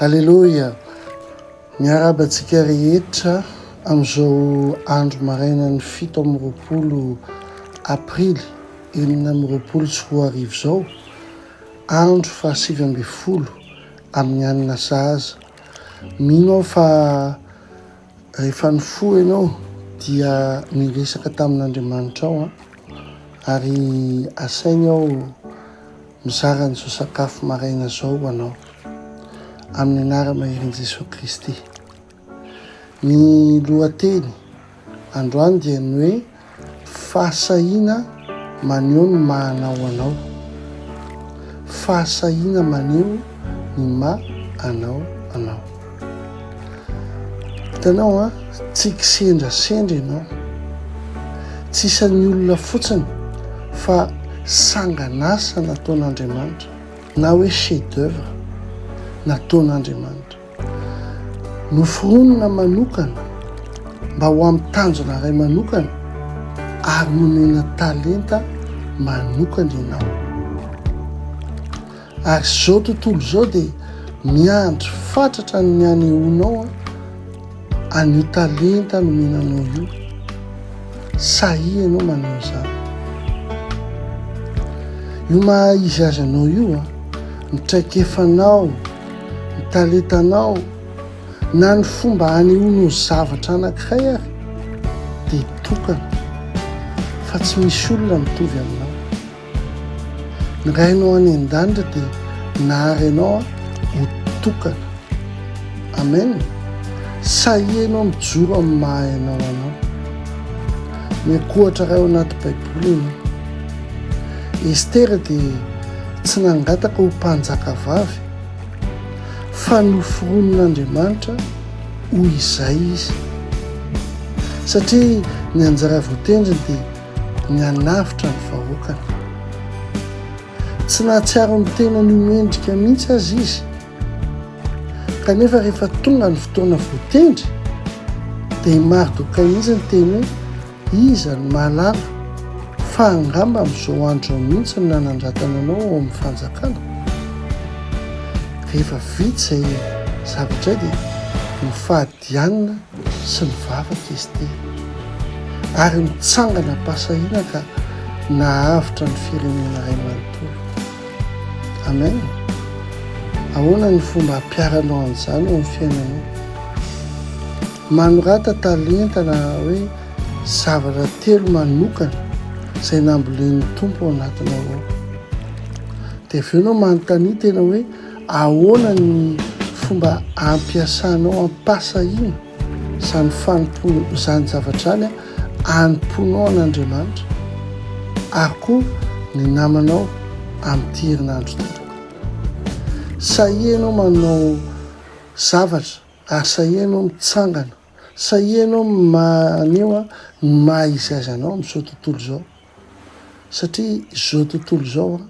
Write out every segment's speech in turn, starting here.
Aleloia! Miarahaba antsika rehetra amin'izao andro marainan'ny fito amby roapolo Aprily enina amby roapolo sy roa arivo izao, andro fahasivy ambin'ny folo amin'ny alina sahaza. Mino aho fa Rehefa nifoha ianao dia miresaka tamin'Andriamanitra ao ary asainy aho mizara an'izao sakafo maraina izao ho anao amin'ny anaram-maherin' Jesoa Kristy. Ny lohateny androany dia ny hoe Fahasahiana maneho ny maha anao anao. Fahasahiana maneho ny maha anao anao. Hitanao an, tsy kisendrasendra ianao. Tsy isan'ny olona fotsiny fa sangan'asa nataon'Andriamanitra na hoe chef d'œuvre nataon'Andriamanitra. Noforonina manokana mba ho amin'ny tanjona iray manokana ary nomena talenta manokana ianao. Ary izao tontolo izao dia miandry fatratra ny hanehoanao an'io talenta nomena anao io. Sahia ianao maneho izany. Io maha izy azy anao io, ny traikefanao, ny talentanao na ny fomba hanehoanao zavatra anankiray ary dia tokana fa tsy misy olona mitovy aminao. Ny Rainao any an-danitra dia nahary anao ho tokana. Amen. Sahianao mijoro amin'ny maha anao anao. Miankohatra iray ao anaty Baiboly ianao. Estera dia Tsy nangataka ho mpanjakavavy, fa noforonin'Andriamanitra ho izay izy, satria ny anjara voatendriny dia ny hanavotra ny vahoakany. Tsy nahatsiaro ny tenany ho mendrika mihitsy aza izy, kanefa rehefa tonga ny fotoana voatendry, dia i Mardokai mihitsy no teny hoe, Iza no mahalala fa angamba amin'izao andro izao mihitsy no nanandratana anao ao amin'ny fanjakana? Rehefa vita izay zavatra izay dia nofadianina sy nivavaka izy ity ary nitsanganam-pahasahiana ka nahavitra ny firenena iray manontolo. Amen. Ahoana ny fomba hampiharanao an'izany eo amin'ny fiainanao? Manorata talenta na hoe zavatra telo manokana izay nambolen'ny Tompo ao anatinao ao. Dia avy eo ianao manontania tena hoe ahoana ny fomba ampiasanao ampasahina izany fanompoana izany zavatra izany anompoanao an'Andriamanitra ary koa ny namanao amin'ity herinandro ity. Sahia ianao manao zavatra Ary sahia ianao mitsangana. Sahia ianao maneho ny maha izy azy anao amin'izao tontolo izao. Satria izao tontolo izao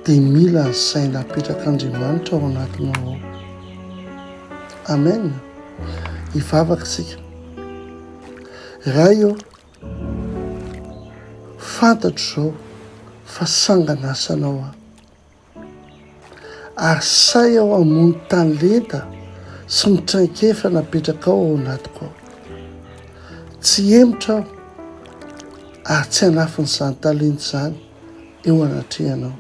dia mila ny saina apetrak'Andriamanitra ao anatinao ao. Amen. Hivavaka isika. Ray ô, fantatro izao fa sangan'asanao aho. Ary sahy aho hamono tany lenta sy ny traikefa napetrakao ao anatiko ao. Tsy hemotra aho ary tsy hanafin'izany talenta izany eo anatrehanao.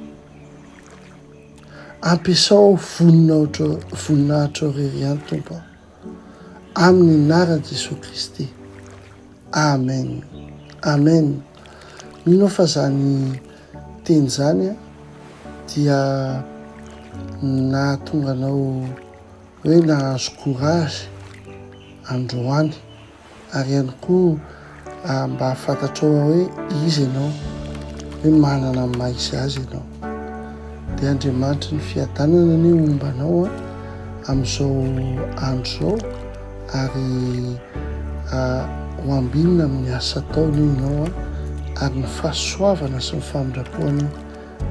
Ampiasao aho vonona voninahitra irery ihany, Tompo. Amin'ny anaran'i Jesoa Kristy. Amen. Amen. Mino aho fa izany teny izany dia nahatonga anao hoe nahazo courage androany. ary ihany koa mba hahafantatrao hoe iza ianao, hoe manana ny maha izy azy ianao. Dia Andriamanitry ny fiadanana anie homba anao amin'izao andro izao ary ho ambinina amin'ny asa ataony io ianao ary ny fahasoavana sy ny famindrapoany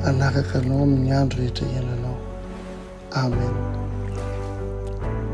hanaraka anao amin'ny andro rehetra iainanao. Amen.